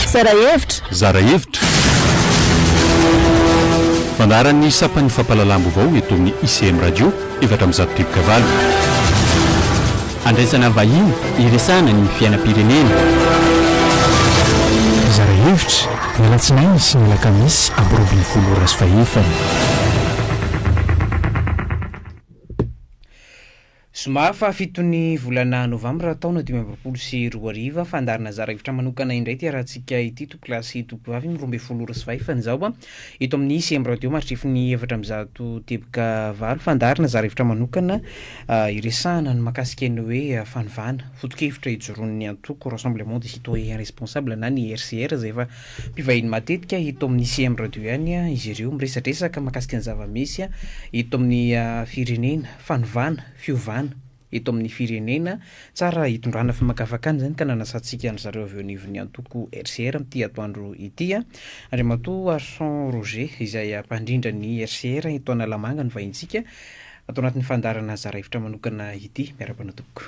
Zara hevitra! Zara hevitra! Fandaharan'ny sampan'ny fampahalalam-baovao eto amin'ny ICM Radio, efatra amby zato rivotra valo. Handraisana vahiny hiresahana ny fiainam-pirenena. Hizara hevitra, ny alatsinainy sy ny alakamisy amby roa ambin'ny folo ora sy fahefany. Zoma fahafito ny volana novambra taona dimy amby roapolo sy roa arivo, fandaharanazara hevitra manokana indray ity arahantsika ity, Tompokolahy sy Tompokovavy, amin'ny roa ambin'ny folo ora sy fahefany izao. Eto amin'ny Siem Radio mahatrefy ny efatra amby zato teboka valo fandaharana zara hevitra manokana hiresahana ny makasika ny hoe fanovana foto-kevitra ijoroan'ny antoko Rassemblement des Citoyens Responsables na ny RCR izay efa mpivahiny matetika eto amin'ny Siem Radio ihany izy ireo miresadresaka makasika ny zava-misy eto amin'ny firenena fanovana fiovana eto amin'ny firenena, tsara hitondrana famakafakana izany ka nanasantsika an-dry zareo avy eo anivon'ny antoko RCR amin'ity atoandro ity. Andriamatoa Harson Roger izay mpandrindra ny RCR eto Analamanga no vahintsika ato anatin'ny fandaharana Zara Hevitra Manokana ity. Miarahaba anao tompoko.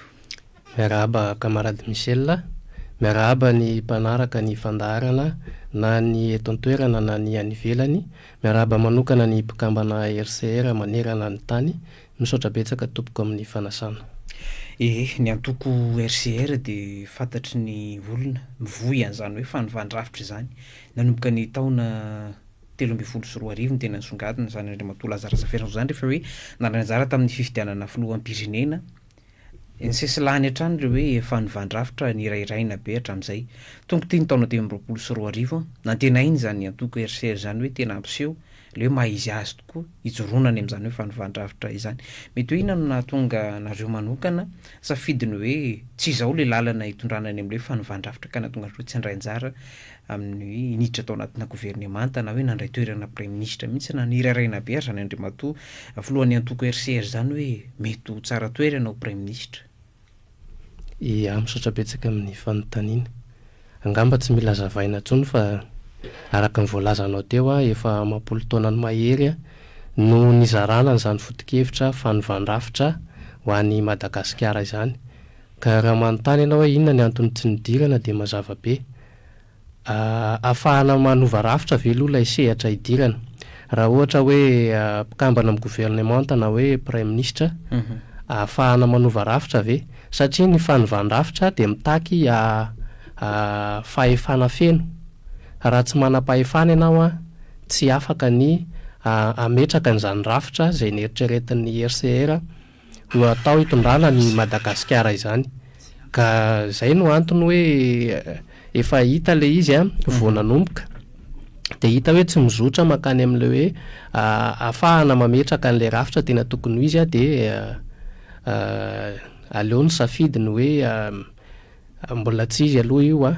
Miarahaba Camarade Michel a! Miarahaba ny mpanaraka ny fandaharana na ny eto an-toerana na ny any ivelany. Miarahaba manokana ny mpikambana RCR manerana ny tany. Misaotra betsaka tompoko amin'ny fanasana. Ee, ny antoko RCR dia fantatry ny olona, mivoy an'izany hoe fanivan-drafitra izany. Nanomboka ny taona telo ambin'ny folo sy roa arivo no tena nisongadina izany Andriamatoa Laza Razafiarison izany rehefa hoe nandray anjara tamin'ny fifidianana filoham-pirenena, Eny sesilany hatrany ilay hoe efa novandrafitra nirahiraina be hatramin'izay. Tonga ity ny taona dimy amby roapolo sy roa arivo an! Nantenaina izany antoko RCR izany hoe tena hampiseho ilay hoe maha izy azy tokoa hijoroana any amin'izany hoe fanovandrafitra izany. Mety hoe inona no nahatonga anareo manokana safidy ny hoe tsy izao ilay lalana hitondrana any amin'ilay hoe fanovandrafitra ka nahatonga anareo tsy handray anjara amin'ny hoe hiditra tao anatina governemanta na hoe nandray toerana praiminisitra mihitsy na niraraina be ary izany andriamatoa filohan'ny antoko RCR izany hoe mety ho tsara toerana ho praiminisitra. Ia, misaotra betsaka amin'ny fanontaniana. Angamba tsy mila hazavaina intsony fa araka ny voalazanao teo aho efa amam-polo taona ny mahery no nizarana an'izany foto-kevitra fanovàn-drafitra ho an'i Madagasikara izany. Ka raha manontany ianao hoe inona ny anton'ny tsy nidirana dia mazava be. Ahafahana manova rafitra ve aloha ilay sehatra hidirana. Raha ohatra hoe mpikambana amin'ny governemanta na hoe praiminisitra, ahafahana manova rafitra ve? Satria ny fanovan-drafitra dia mitaky fahefana feno. Raha tsy manam-pahefana ianao, tsy afaka ny hametraka an'izany rafitra izay neritreretin'ny HCR no hatao hitondrana an'i Madagasikara izany ka izay no antony hoe efa hita ilay izy an, vao nanomboka dia hita hoe tsy mizotra mankany amin'ilay hoe ahafahana mametraka an'ilay rafitra tena tokony ho izy dia aleo ny safidy ny hoe mbola tsy izy aloha io an,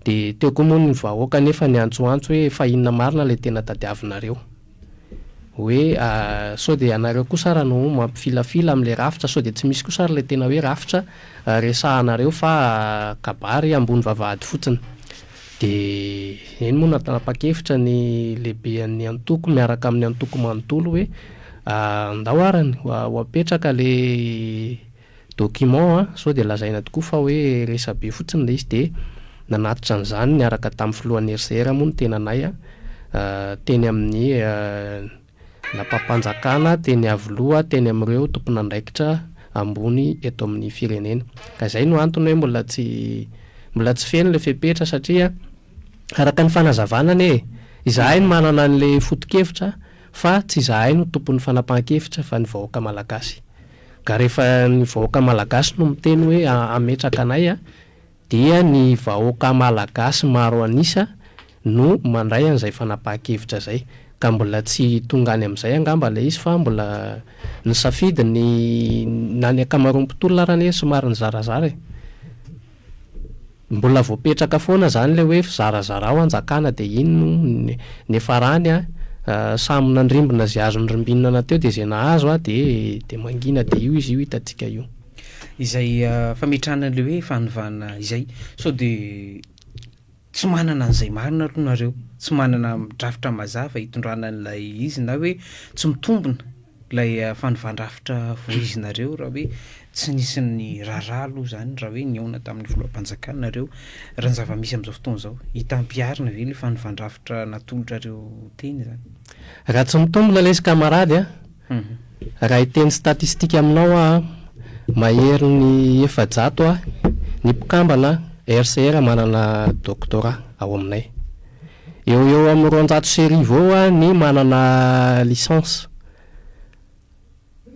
dia teo koa moa ny vahoaka anefa niantsoantso hoe fa inona marina ilay tena tadiavinareo. hoe sao dia ianareo kosa ary no mampifilafila amin'ilay rafitra, sao dia tsy misy kosa ary ilay tena hoe rafitra resahanareo fa kabary ambony vavahady fotsiny. Dia eny moa no nanapa-kevitra ny lehiben'ny antoko miaraka amin'ny antoko manontolo hoe ndao ary ho apetraka ilay Document an, sao dia lazaina tokoa fa hoe resabe fotsiny ilay izy dia nanatitra an'izany niaraka tamin'ny filohan'ny RCR moa ny tenanay an, teny amin'ny lapam-panjakana, teny Iavoloha, teny amin'ireo tompon'andraikitra ambony eto amin'ny firenena. Ka izay no antony hoe mbola tsy mbola tsy feno ilay fepetra satria araka ny fanazavana anie e, izahay no manana an'ilay foto-kevitra fa tsy izahay no tompon'ny fanapahan-kevitra fa ny vahoaka malagasy. Nga rehefa ny vahoaka malagasy no miteny hoe hametraka anay a, dia ny vahoaka malagasy maro an'isa no mandray an'izay fanapahan-kevitra izay. Ka mbola tsy tonga any amin'izay angamba ilay izy fa mbola nisafidy ny, na ny ankamaroan'ny mpitolona ary anie somary nizarazara e. Mbola voapetraka foana zany le hoe fizarazarao anjakana de iny no niafarany a, samy nandrimbona ze azo nirimbinana teo de ze nahazo a de de mangina de io izy io hitantsika io. Izay fametrahana an'ilay hoe fanovana izay sao dia. Tsy manana an'izay marina aloha nareo, tsy manana drafitra mazava hitondrana an'ilay izy na hoe tsy mitombina ilay fanovan-drafitra voizinareo raha hoe tsy nisy ny raharaha aloha izany raha hoe nihaona tamin'ny filoham-panjakana nareo raha ny zava-misy amin'izao fotoana izao. Hita ampiharina ve ilay fanovan-drafitra natolotrareo teny izany? Raha tsy mitombina lesy kamarady a! Raha hiteny statistika aminao aho, maherin'ny efajato ny mpikambana RCR manana doctorat ao aminay. Eo ho eo amin'ny roanjato sy arivo eo ny manana licence.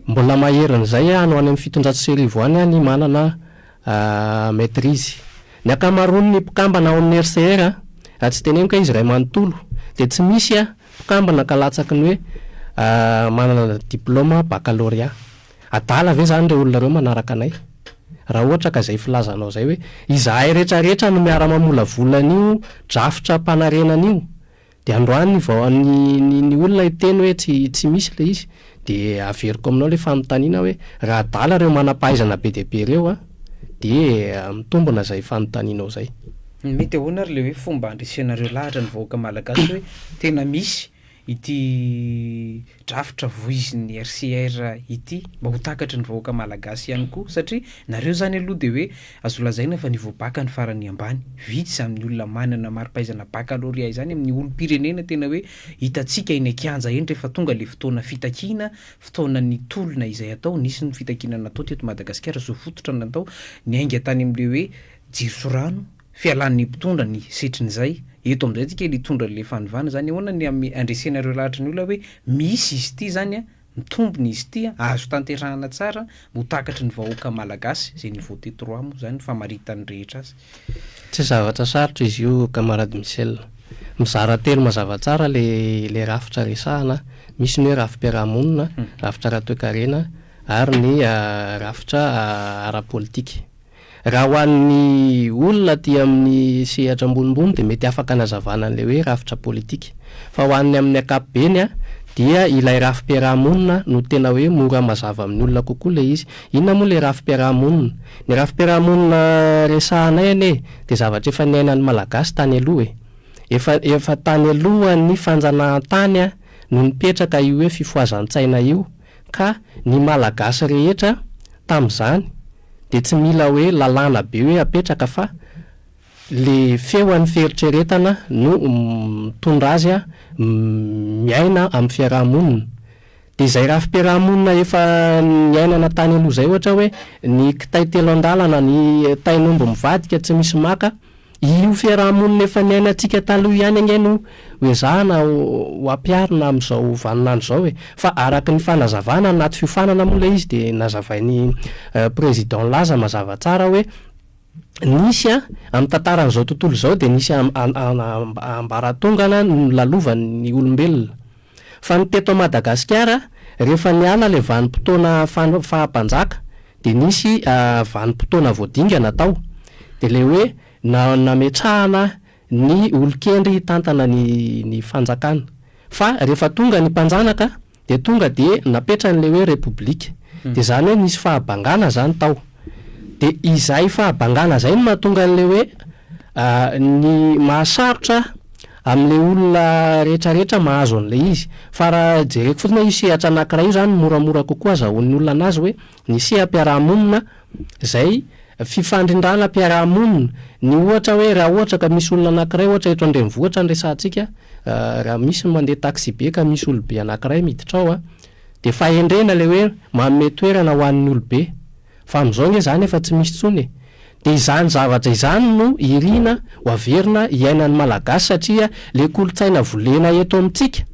Mbola maherin'izay any ho any amin'ny fitonjato sy arivo any ny manana maitrise. Ny ankamaroan'ny mpikambana ao amin'ny RCR, raha tsy teneniko hoe izy iray manontolo, dia tsy misy Mpikambana ankalatsaky ny hoe manana diplaoma bakalorea. Adala ve izany ireo olona ireo manaraka anay? Raha ohatra ka izay filazanao izay hoe izahay retraretra no miara-mamolavola an'io drafitram-panarenana io, dia androany vao ny ny olona hiteny hoe tsy tsy misy ilay izy, Dia averiko aminao ilay fanontaniana hoe raha adala ireo manam-pahaizana be dia be ireo an, dia mitombina izay fanontanianao izay. Mety ahoana ary ilay hoe fomba handresenareo lahatra ny vahoaka malagasy hoe tena misy ity drafitra voizin'ny RCR ity mba ho takatry ny vahoaka malagasy ihany koa satria nareo izany aloha dia hoe azo lazaina fa niveau bacc ny farany ambany, vitsy izany ny olona manana mari-pahaizana baccalauréat izany amin'ny olom-pirenena tena hoe Hitantsika eny an-kianja eny rehefa tonga ilay fotoana fitakiana, fotoanan'ny tolona izay atao, nisy ny fitakiana natao teto Madagasikara, zo fototra natao, niainga tany amin'ilay hoe jiro sy rano, fialan'ny mpitondra ny setrin'izay, eto amin'izay tsika hitondra ilay fanovana izany, ahoana ny handresena ireo lahatry ny olona hoe misy izy ity izany an, Mitombina izy ity an! Azo tanterahana tsara ho takatry ny vahoaka Malagasy izay ni-voter trois moa izany famaritan'ny rehetra azy. Tsy zavatra sarotra izy io camarade Michel. Mizara telo mazava tsara ilay rafitra resahana an! Misy ny hoe rafi-piarahamonina, rafitra ara-toekarena ary ny rafitra ara-politika. Raha ho an'ny olona aty amin'ny sehatra ambonimbony dia mety afaka anazavana an'ilay hoe rafitra politika. Fa ho an'ny amin'ny ankapobeny dia ilay rafi-piaraha-monina no tena hoe mora mazava amin'ny olona kokoa ilay izy. Inona moa ilay rafi-piaraha-monina? Ny rafi-piaraha-monina resahanay anie dia zavatra efa niainan'ny Malagasy tany aloha e. Efa efa tany alohan'ny fanjanahantany no nipetraka io hoe fifohazan-tsaina io. Ka ny Malagasy rehetra tamin'izany dia tsy mila hoe lalàna be hoe apetraka fa le feon'ny fieritreretana no mitondra azy miaina amin'ny fiaraha-monina. Dia izay rafi-piaraha-monina efa niainana tany aloha izay ohatra hoe ny kitay telo an-dalana, ny tain'omby mivadika tsy misy maka, Io fiaraha-monina efa niainantsika taloha ihany ange no hoezahana ho ampiharina amin'izao vaninandro izao e! Fa araka ny fanazavana anaty fiofanana moa ilay izy dia nazavain'i Président Laza mazava tsara hoe nisy an, amin'ny tantaran'izao tontolo izao dia nisy ambaratongana nolalovan'ny olombelona. Fa ny teto Madagasikara, rehefa niala ilay vanim-potoana faha-mpanjaka, dia nisy vanim-potoana vao dingana tao, dia ilay hoe nametrahana ny olon-kendry hitantana ny fanjakana. Fa rehefa tonga ny mpanjanaka, dia tonga dia napetrany ilay hoe repoblika. Dia izany hoe nisy fahabangana izany tao. Dia izay fahabangana izay no mahatonga an'ilay hoe ny mahasarotra, Amin'ilay olona rehetrarehetra mahazo an'ilay izy. Fa raha jereko fotsiny hoe io sehatra anankiray io izany moramora kokoa azahoan'ny olona an'azy hoe ny seha-piarahamonina izay fifandrindrana mpiarahamonina, ny ohatra hoe raha ohatra ka misy olona anankiray ohatra eto an-drenivohitra no resahantsika, raha misy ny mandeha taxi-be ka misy olobe anankiray miditra ao dia fahendrena ilay hoe manome toerana ho an'ny olobe. Fa amin'izao ange izany efa tsy misy intsony e! Dia izany zavatra izany no irina ho averina iainan'ny Malagasy satria ilay kolontsaina volena eto amintsika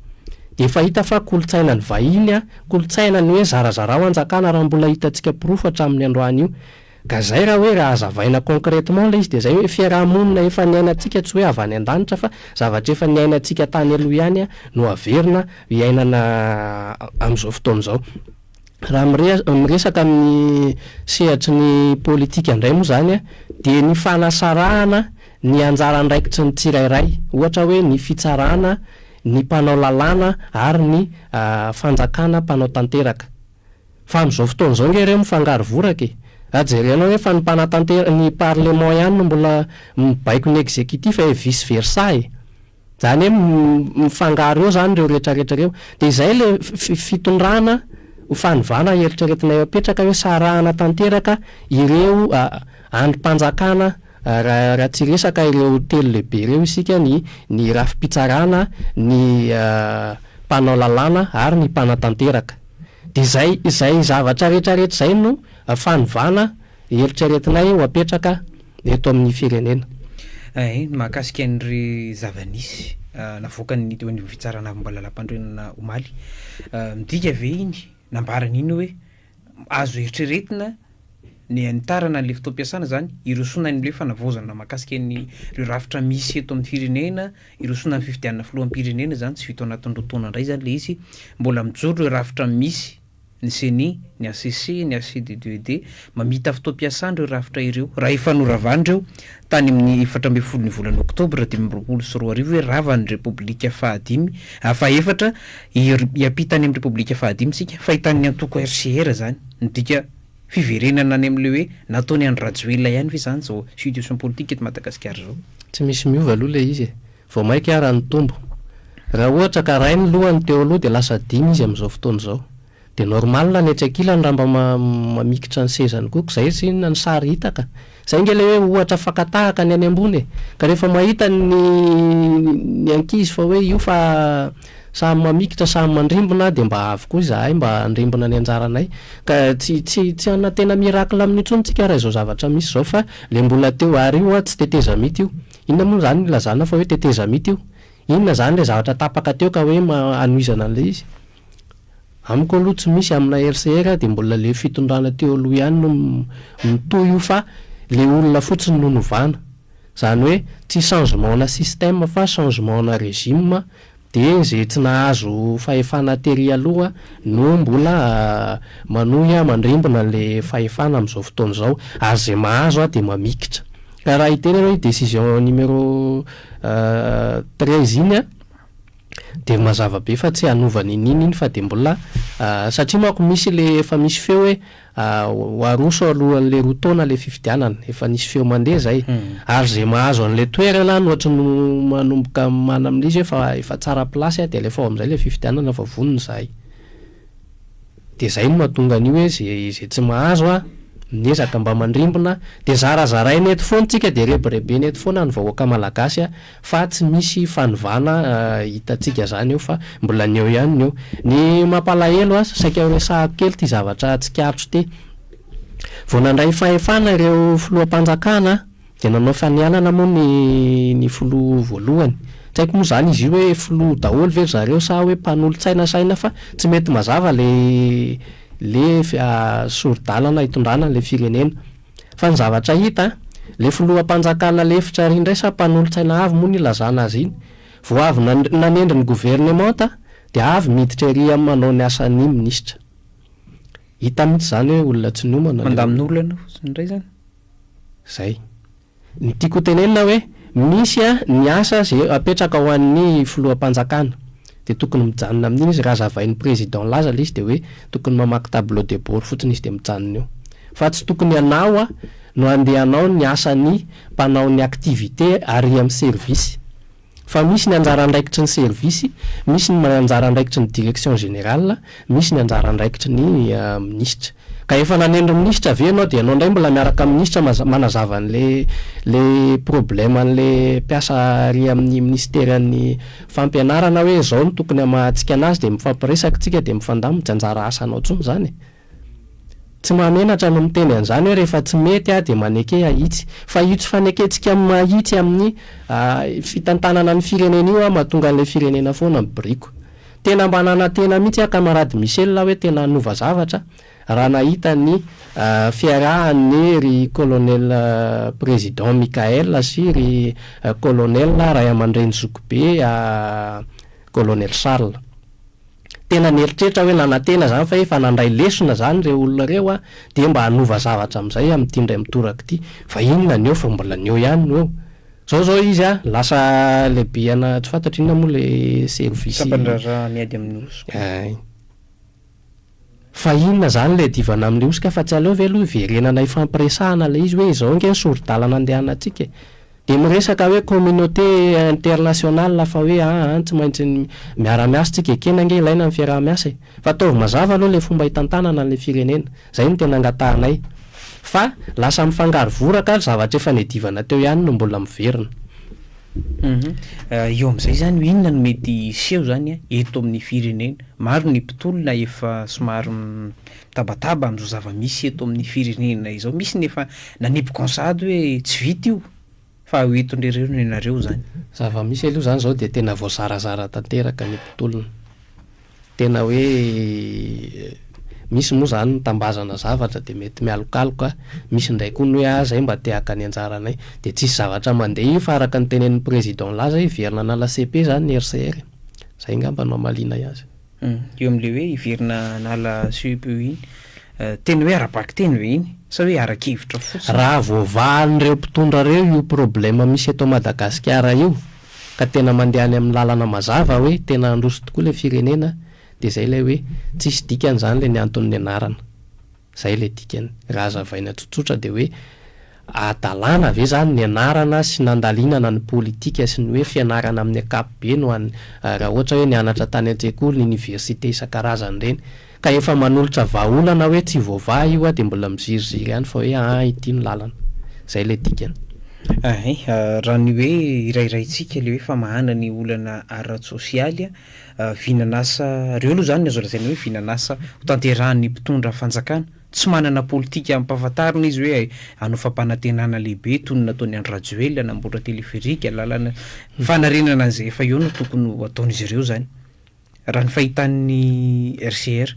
dia efa hita fa kolontsainan'ny vahiny, kolontsainan'ny hoe zarazarao hanjakana raha mbola hitantsika porofo hatramin'ny androany io. Ka izay raha hoe raha hazavaina concrètement ilay izy dia izay hoe fiaraha-monina efa niainantsika tsy hoe avy any an-danitra fa zavatra efa niainantsika tany aloha ihany no averina iainana amin'izao fotoana izao. Raha miresaka amin'ny sehatry ny politika indray moa izany dia ny fanasarahana ny anjara andraikitry ny tsirairay, ohatra hoe ny fitsarana, ny mpanao lalàna ary ny fanjakana mpanao tanteraka. Fa amin'izao fotoana izao ange ireo mifangaro voraka e! Raha jerenao hoe fa ny mpanatanteraka, ny parlement ihany no mbola mibaiko ny executif e, vice versa e! Izany hoe mifangaro eo izany ireo rehetrarehetra ireo. Dia izay ilay fitondrana ho fanovana ny eritreretina eo apetraka hoe sarahana tanteraka ireo andrim-panjakana raha tsy resaka ireo telo lehibe ireo isika, ny ny rafi-pitsarana, ny mpanao lalàna ary ny mpanatanteraka. Dia izay izay zavatra rehetrarehetra izay no fanovana Eritreretinay ho apetraka eto amin'ny firenena. Ny mahakasika ny zava-nisy navoakan'ny teo anivon'ny fitsarana avy mbola lampanorenana omaly, midika ve iny, nambarany iny hoe azo eritreretina ny hanitarana an'ilay fotoam-piasana izany, hirosoana an'ilay fanavaozana mahakasika an'ireo rafitra misy eto amin'ny firenena, hirosoana amin'ny fifidianana filoham-pirenena izany, tsy vita ao anatin'ny roa taona indray izany ilay izy, mbola mijoro ireo rafitra misy. ny ceni, ny hcc, ny hcddued, mamita fotoam-piasana ireo rafitra ireo. Raha efa noravana ireo, tany amin'ny efatra ambin'ny folo ny volana oktobra dimy amby roapolo sy roa arivo hoe rava ny Repoblika fahadimy, fahefatra, hiampita any amin'ny Repoblika fahadimy isika, fahitan'ny antoko RCR izany. Midika fiverenana any amin'ilay hoe nataon'i Andry Rajoelina ihany ve izany izao situation politique eto Madagasikara izao? Tsy misy miova aloha ilay izy e! Vao maika ara nitombo. Raha ohatra ka rainy lohany teo aloha dia lasa dimy izy amin'izao fotoana izao. Dia normal ny etsy ankilany raha mba mamikitra ny sezany koa. Koa izay tsy inona ny sary hita ka. Izay ange ilay hoe ohatra fakatahaka ny any ambony e. Ka rehefa mahita ny ny ankizy fa hoe io fa samy mamikitra samy mandrimbona dia mba avy koa izahay mba handrimbona ny anjaranay. Ka tsy tsy tsy hanantena miracle amin'io intsony tsika raha izao zavatra misy izao fa ilay mbola teo ary io an tsy tetezamita io. Inona moa izany io ilazanao fa hoe tetezamita io? Inona izany ilay zavatra tapaka teo ka hoe hanohizana an'ilay izy? Amiko aloha tsy misy amina RCR dia mbola ilay fitondrana teo aloha ihany no mitohy io fa ilay olona fotsiny no novana. Izany hoe tsy changement-na système fa changement-na régime Dia izay tsy nahazo fahefana tery aloha no mbola manohy mandrimbona ilay fahefana amin'izao fotoana izao, ary izay mahazo dia mamikitra. Ka raha hiteny ianao iny décision numéro treize iny dia mazava be fa tsy hanova an'iny iny iny fa dia mbola satria manko misy ilay efa misy feo hoe Ho aroso alohan'ilay roa taona ilay fifidianana, efa nisy feo mandeha izay, ary izay mahazo an'ilay toerana no hatry no manomboka manamlia izy hoe efa efa tsara place aho dia alefa ao amin'izay ilay fifidianana fa vonona izahay. Dia izay no mahatonga an'io hoe izay izay tsy mahazo a, miezaka mba mandrimbona, dia zarazaraina eto foana isika dia rebirebena eto foana ny vahoaka malagasy a. Fa tsy misy fanovana hitantsika izany eo fa mbola ny eo ihany ny eo. Ny mampalahelo aza, saika ho resahako kely ity zavatra tsikaritra ity. Vao nandray fahefana ireo filoham-panjakana dia nanao fanianana moa ny ny filoha voalohany. Tsy haiko moa izany izy io hoe filoha daholo ve ry zareo sa hoe mpanolo-tsaina saina fa tsy mety mazava ilay ilay sori-dalana hitondrana an'ilay firenena. Fa ny zavatra hita an! Le filoham-panjakana lefitra ary indray sa mpanolotsaina avy moa no ilazana azy iny? Vao avy nanendry ny governemanta dia avy miditra ery amin'ny manao ny asan'ny minisitra. Hita mihitsy izany hoe olona tsy niomana le olona. Mandamin'olona indray izany? Izay. Ny tiako ho tenenina hoe misy a ny asa ze apetraka ho an'ny filoham-panjakana de tokony mijanona amin'iny izy raha zavain'ny président laza le izy de hoe tokony mamaky tableau de bord fotsiny izy de mijanona eo fa tsy tokony ianao a no andeha hanao ny asan'ny mpanao ny activité ary am service Fa misy ny anjara andraikitry ny service, misy ny anjara andraikitry ny direction générale, misy ny anjara andraikitry ny minisitra. Ka efa nanendry minisitra ve ianao dia ianao indray mbola miaraka amin'ny minisitra manazava an'ilay problème an'ilay mpiasa ary amin'ny minisiteran'ny fampianarana hoe izao no tokony hamahantsika an'azy dia mifampiresaka isika dia mifandamina, tsy anjara asanao intsony izany e! Tsy mahamenatra ny miteny an'izany hoe rehefa tsy mety aho dia maneke ahitsy. Fa io tsy fanekentsika amin'ny mahitsy amin'ny fitantanana ny firenena io aho mahatonga an'ilay firenena foana mibiriko. Tena mba nanantena mihitsy aho camarade Michel hoe tena hanova zavatra raha nahita ny fiarahan'ny ry colonel président Michael sy ry colonel ray aman-dreny zokibe colonel Charles. tena nieritreritra aho hoe nanantena izany fa efa nandray lesona izany ireo olona ireo an, dia mba hanova zavatra amin'izay amin'ity indray mitoraka ity, fa inona ny eo fa mbola ny eo ihany no eo. Izao izao izy an, lasa lehibe ana tsy fantatro inona moa ilay service. Sampandraharaha miady amin'ny hoso-ko. Ay. Fa inona izany ilay divana amin'ilay hosoka fa tsy aleo ve aloha hiverenana hifampiresahana ilay izy hoe izao ange ny sori-dalana andehanantsika e. Dia miresaka hoe communauté internationale fa hoe an an tsy maintsy miara-miasa tsika ekena ange ilaina ny fiaraha-miasa e. Fa ataovy mazava aloha ilay fomba hitantanana an'ilay firenena. Izay no tena angatahanay. Fa lasa mifangaro voraka ary zavatra efa niadivana teo ihany no mbola miverina. Eo amin'izay izany hoe inona no mety hiseho izany eto amin'ny firenena? Maro ny mpitolona efa somary mitabataba amin'izao zava-misy eto amin'ny firenena izao. Misy ny efa nanipy gonsady hoe tsy vita io fa ho entin-dreo noho ianareo izany. Zava-misy aloha izany izao dia tena voazarazara tanteraka ny mpitolona. Tena hoe misy moa izany ny tambazana zavatra dia mety mialokaloka, misy indray koa ny hoe ah izay mba te haka ny anjaranay. Dia tsisy zavatra mandeha io fa araka ny tenenin'ny président nilaza hiverina hanala cepe izany ny RCR. Izay angamba no hamalianay azy. Io amin'ilay hoe hiverina hanala cepe iny, tena hoe ara-bakiteny ve iny sa hoe ara-kevitra fotsiny? Raha voavahan'ireo mpitondra ireo io problème misy eto Madagasikara io, ka tena mandeha any amin'ny lalana mazava hoe tena handroso tokoa ilay firenena dia izay ilay hoe tsisy dikany izany ilay niantony ny anarana. Izay ilay dikany. Raha hazavaina tsotsotra dia hoe adalàna ve izany ny anarana sy nandalinana ny politika sy ny hoe fianarana amin'ny ankapobeny ho an'ny raha ohatra hoe nianatra tany an-tsekoly, iniversite isan-karazany ireny. Ka efa manolotra vahaolana hoe tsy voavaha io a dia mbola miziriziry ihany fa hoe aa ity no lalana. Izay ilay dikany. Ahay, raha ny hoe irairaintsika ilay hoe famahana ny olana ara-tsosialy, vinan'asa, ireo aloha izany no azo lazaina hoe vinan'asa hotanterahan'ny mpitondra fanjakana. Tsy manana politika ampahafantarina izy hoe hanao fampanantenana lehibe toy ny nataon'i Andry Rajoelina hanamboatra téléphérique, lalana, fanarenana an'izay efa eo no tokony ho ataon'izy ireo izany. Raha ny fahitan'ny RCR,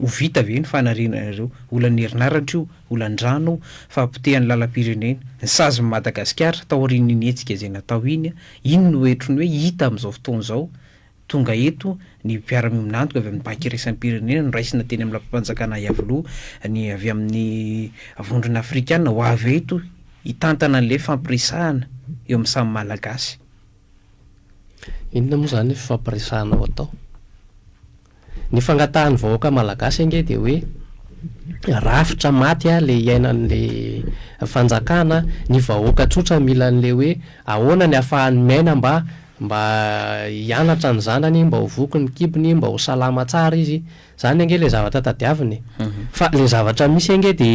ho vita ve ny fanarenana ireo? Olan'ny herinaratra io, olan-drano, fahapotehan'ny lalam-pirenena, ny sazin'i Madagasikara taorian'iny hetsika izay natao iny, iny no heritro ny hoe hita amin'izao fotoana izao, tonga eto ny mpiara-miombon'antoka avy amin'ny Banky iraisam-pirenena noraisina teny amin'ny lapam-panjakana Iavoloha, ny avy amin'ny Vondrona Afrikana ho avy eto hitantana an'ilay fampiresahana eo amin'ny samy Malagasy. Inona moa izany fifampiresahana ho atao? Ny fangatahan'ny vahoaka malagasy ange dia hoe rafitra maty ilay hiainan'ilay fanjakana, ny vahoaka tsotra mila an'ilay hoe ahoana ny hahafahany miaina mba mba hianatra ny zanany, mba ho voky ny kibony, mba ho salama tsara izy. Zany ange le zavatra tadiavina e. Fa le zavatra misy ange de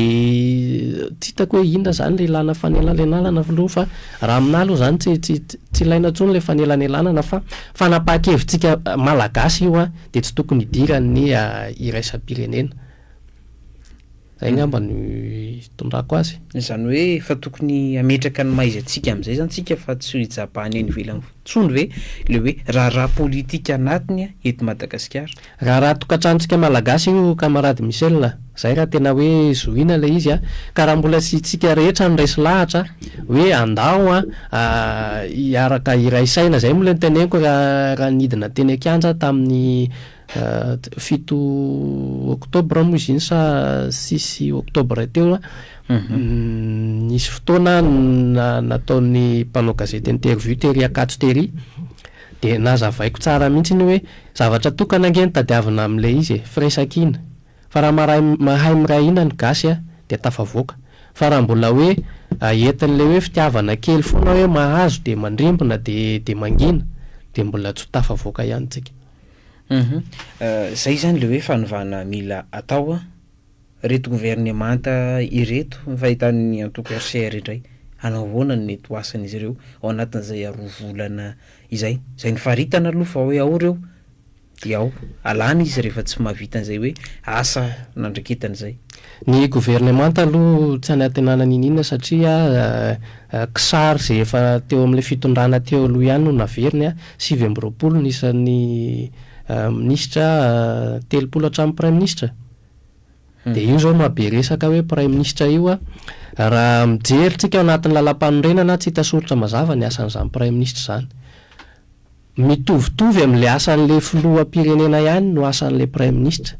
tsy hitako hoe inona zany le ilana fanelanelanana filoha fa raha aminah aloha zany tsy tsy tsy ilaina intsony le fanelanelanana fa fanapahan-kevitsika malagasy io an de tsy tokony hidiran'ny iraisam-pirenena. Izay ngamba no itondrako azy. Izany hoe efa tokony hametraka ny mahaizatsika amin'izay izany tsika fa tsy ho ijabahany any ivelany intsony ve ilay hoe raharaha politika anatiny eto Madagasikara? Raharaha tokantranontsika Malagasy io kamarady Michel a! Izay raha tena hoe zohiana ilay izy a! Ka raha mbola isiantsika rehetra no resy lahatra hoe andao a hiaraka hiray saina, izay moa ilay noteneniko raha nidina teny an-kianja tamin'ny Fito oktobra moa izy iny sa six oktobra teo a, nisy fotoana nataon'ny mpanao gazety interview tery Ankatso tery, dia nazavaiko tsara mihitsy iny hoe zavatra tokana ange no tadiavina amin'ilay izy e, firesakina, fa raha maray mahay miray hina ny gasy a, dia tafavoaka, fa raha mbola hoe entin'ilay hoe fitiavana kely foana hoe mahazo dia mandrimbona dia dia mangina dia mbola tsy ho tafavoaka ihany tsika. Humm zay zany le hoe fanovana mila atao an! Reto governemanta ireto ny fahitan'ny antoko RCR indray hanao ahoana ny mety ho asan'izy ireo ao anatin'izay roa volana izay? Izay nifaritana aloha fa hoe ao ireo dia ao, alana izy rehefa tsy mahavita an'izay hoe asa nandraketany izay. Ny governemanta aloha tsy anantenana niniana satria kisary izay efa teo amin'ilay fitondrana teo aloha ihany no naveriny an! Sivy amby roapolo ny isan'ny minisitra, telopolo hatramin'ny praiminisitra. Dia io izao no maha be resaka hoe praiminisitra io. Raha mijery tsika ao anatin'ny lalampanorenana, tsy hita soritra mazava ny asan'izany praiminisitra izany. Mitovitovy amin'ilay asan'ilay filoham-pirenena ihany no asan'ilay praiminisitra.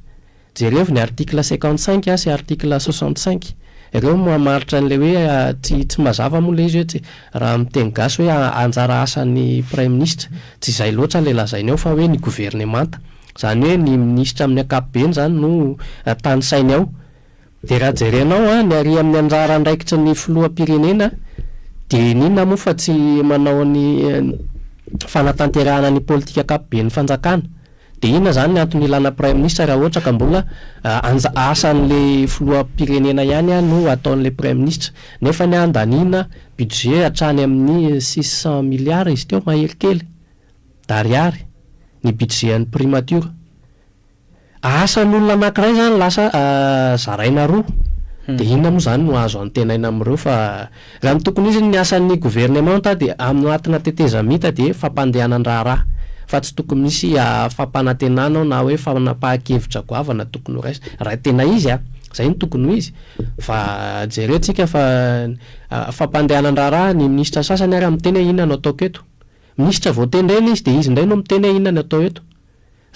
Jerevo ny article cinquante cinq sy article soixante cinq ireo mamaritra an'ilay hoe tsy tsy mazava moa ilay izy hoe tsy raha amin'ny teny gasy hoe anjara asan'ny praiminisitra tsy izay loatra ilay lazainy ao fa hoe ny governemanta izany hoe ny minisitra amin'ny ankapobeny izany no tanisainy ao dia raha jerenao ny ary amin'ny anjara andraikitry ny filoham-pirenena dia inona moa fa tsy manao ny fanatanterahana ny politika ankapoben'ny fanjakana Dia inona izany ny antony ilana praiminisitra raha ohatra ka mbola anja asan'ilay filoham-pirenena ihany an no ataon'ilay praiminisitra. Nefa ny handaniana budget hatrany amin'ny six cent milliards izy teo mahery kely d'ariary ny budget an'ny primature. Asan'olona anankiray izany lasa zaraina roa. Dia inona moa izany no azo antenaina amin'ireo fa Raha ny tokony ho izy ny asan'ny governemanta dia anoatina tetezamita dia fampandehanan-draharaha fa tsy tokony misy fampanantenana ao na hoe fanapahan-kevitra goavana tokony ho raisina. Raha tena izy a! Izay no tokony ho izy fa jereo tsika fa fampandehanan-draharaha ny minisitra sasany ary miteny hoe inona no ataoko eto. Minisitra vao tendrena izy dia izy indray no miteny hoe inona no atao eto.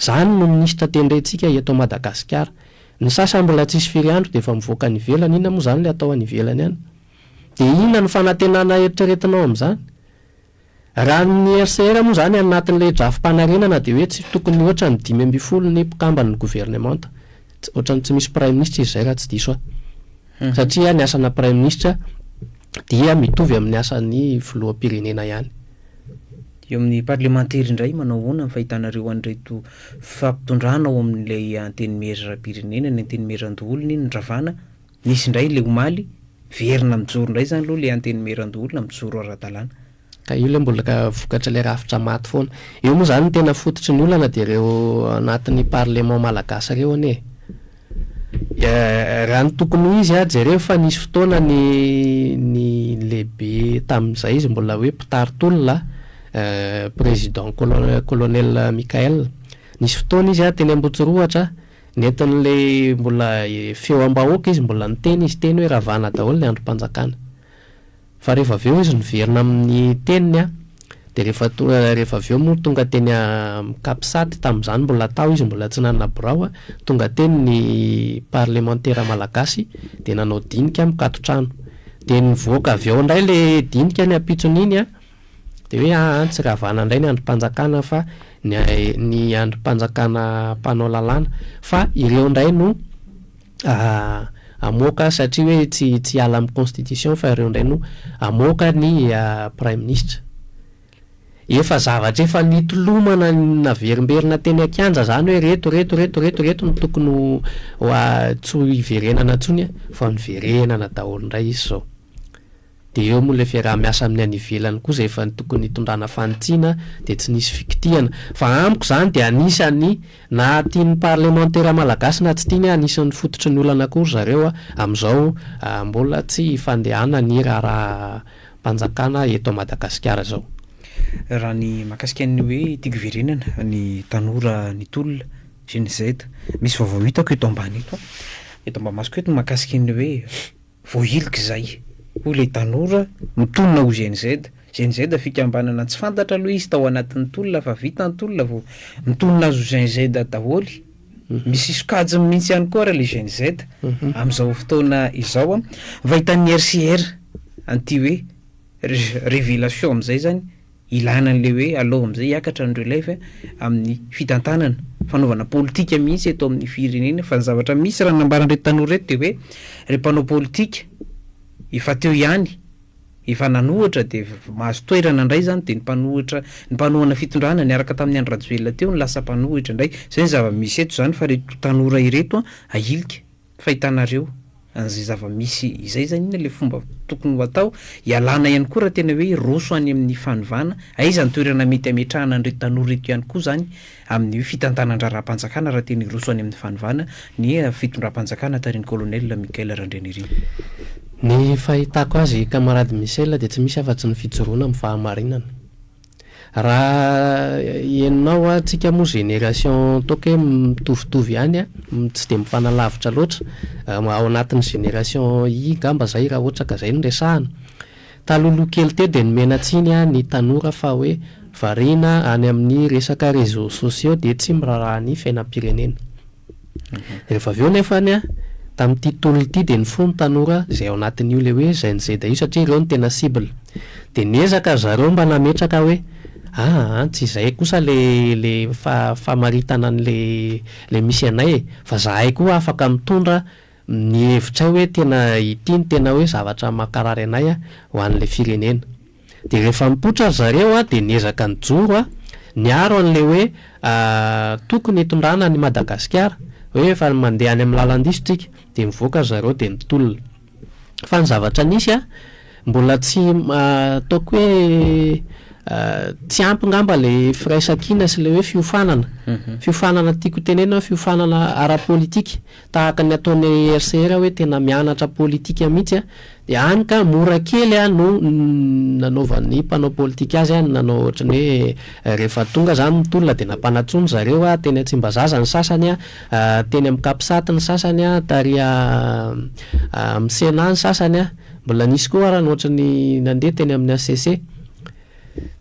Zany no minisitra tendrentsika eto Madagasikara. Ny sasany mbola tsisy firy andro dia efa mivoaka any ivelany, inona moa zany le atao any ivelany any? Dia inona no fanantenana eritreretinao amin'izany? Raha ny HCR moa zany anatin'ilay drafi-panarenana dia hoe tsy tokony mihoatra ny dimy ambin'ny folo ny mpikamban'ny governemanta, ohatran'ny tsy misy praiminisitra izy izay raha tsy diso aho. satria ny asana praiminisitra dia mitovy amin'ny asan'ny filoham-pirenena ihany. Eo amin'ny parlemantera indray, manao ahoana ny fahitanareo an'ireto fifampitondrana ao amin'ilay antenimieram-pirenena, ny antenimieran-doholona iny nravana, nisy indray ilay omaly, miverina mijoro indray izany aloha ilay antenimieran-doholona, mijoro ara-dalàna. Ka io ilay mbola vokatr'ilay rafitra maty foana. Eo moa izany ny tena fototry ny olana dia ireo anatin'ny parlement malagasy ireo anie e! Raha ny tokony ho izy, jereo fa nisy fotoana ny ny lehibe tamin'izay izy mbola hoe mpitari-tolona président colonel Michael. Nisy fotoana izy teny Ambotsirohatra, nentin'ilay mbola feo am-bahoaka izy, mbola niteny izy teny hoe ravana daholo ny andrim-panjakana. Fa rehefa avy eo izy niverina amin'ny teniny an, dia rehefa tonga rehefa avy eo moa tonga teny amin'ny Capsat, tamin'izany mbola tao izy mbola tsy nanana birao an, tonga teny ny parlemantera malagasy dia nanao dinika mikatotrano. Dia nivoaka avy ao indray ilay dinika ny ampitsony iny an, dia hoe aa tsy ravana indray ny andrim-panjakana fa ny ny andrim-panjakana mpanao lalàna, fa ireo indray no hamoaka satria hoe tsy tsy hiala amin'ny constitution fa ireo indray no hamoaka ny praiminisitra. Efa zavatra efa nitolomana naverimberina teny an-kianja izany hoe ireto ireto ireto ireto ireto no tokony ho tsy ho hiverenana intsony vao niverenana daholo indray izy izao. Dia eo moa ilay fiaraha-miasa amin'ny any ivelany koa izay efa tokony hitondrana fanitsiana dia tsy nisy fikitihana. Fa amiko izany dia anisan'ny na tian'ny parlemantera malagasy na tsy tiany anisan'ny fototry ny olana koa ry zareo amin'izao mbola tsy ifandehana ny raharaham-panjakana eto Madagasikara izao. Raha ny mahakasika ny hoe ity goverenana ny tanora ny tolona Gen Z misy vaovao hitako eto ambany eto, eto ambamasoko eto ny mahakasika ny hoe Voahilik' izay, hoy ilay tanora, mitonona ho GNZ. GNZ fikambanana tsy fantatra aloha izy tao anatin' ny tolona fa vita ny tolona vao mitonona azy ho GNZ daholo. Misy sokajiny mihitsy ihany koa ary ilay GNZ amin' izao fotoana izao. Ny fahitan' ny RCR an' ity hoe Révélation amin' izay izany, Ilana an'ilay hoe alao amin'izay hiakatra ny relève amin'ny fitantanana, fanaovana politika mihitsy eto amin'ny firenena fa ny zavatra misy raha ny nambaran'ireto tanora ireto dia hoe ireo mpanao politika efa teo ihany efa nanohatra dia mahazo toerana indray izany dia ny mpanohatra ny mpanohana fitondrana niaraka tamin'ny Andry Rajoelina teo no lasa mpanohitra indray, izay ny zava-misy eto izany fa ireto tanora ireto ahilika. fa hitanareo an'izay zava-misy izay izany inona ilay fomba tokony ho atao, ialana ihany koa raha tena hoe hiroso any amin'ny fanovana, aiza ny toerana mety hametrahana an'ireto tanora ireto ihany koa izany amin'ny hoe fitantanan-draharaham-panjakana raha tena hiroso any amin'ny fanovana ny fitondram-panjakana tarihin'ny Colonel Michael Randrianirina. Ny fahitako azy, Camarade Michel, dia tsy misy afa-tsy ny fijoroana amin'ny fahamarinana. Raha henonao an, tsika moa génération toaka hoe mitovitovy ihany an, tsy dia mifanalavitra loatra, ao anatin'ny génération i ngamba izay raha ohatra ka izay no resahana. Talohaloha kely teo dia nomena tsiny an ny tanora fa hoe variana any amin'ny resaka réseaux sociaux dia tsy miraharaha ny fiainam-pirenena. Rehefa avy eo nefany an, tamin'ity tolona ity dia nifoha ny tanora izay ao anatin'io ilay hoe Gen Z io satria ireo no tena cible. Dia niezaka ry zareo mba nametraka hoe aa an, tsy izay kosa ilay famaritana an'ilay misy anay e, fa zahay koa afaka mitondra ny hevitray hoe tena ity no tena hoe zavatra mankarary anay an, ho an'ilay firenena. Dia rehefa nipoitra ry zareo a, dia niezaka nijoro a, niaro an'ilay hoe tokony hitondrana an'i Madagasikara, hoe efa mandeha any amin'ny lalan-diso tsika. Dia nivoaka ry zareo dia nitolona. Fa ny zavatra nisy a, mbola tsy, ataoko hoe tsy ampy ngamba ilay firaisankina sy ilay hoe fiofanana, fiofanana tiako tenenina hoe fiofanana ara-politika, Tahaka ny ataon'i RCR hoe tena mianatra politika mihitsy an, dia hany ka mora kely an no nanaovan'ny mpanao politika azy an, nanao ohatran'ny hoe rehefa tonga izany ny tolona dia nampanatsoa ny zareo an, teny Tsimbazaza ny sasany an, teny amin'ny Capsat ny sasany an, tary amin'ny Sénat ny sasany an, mbola nisy koa ara ny ohatran'ny nandeha teny amin'ny HCC.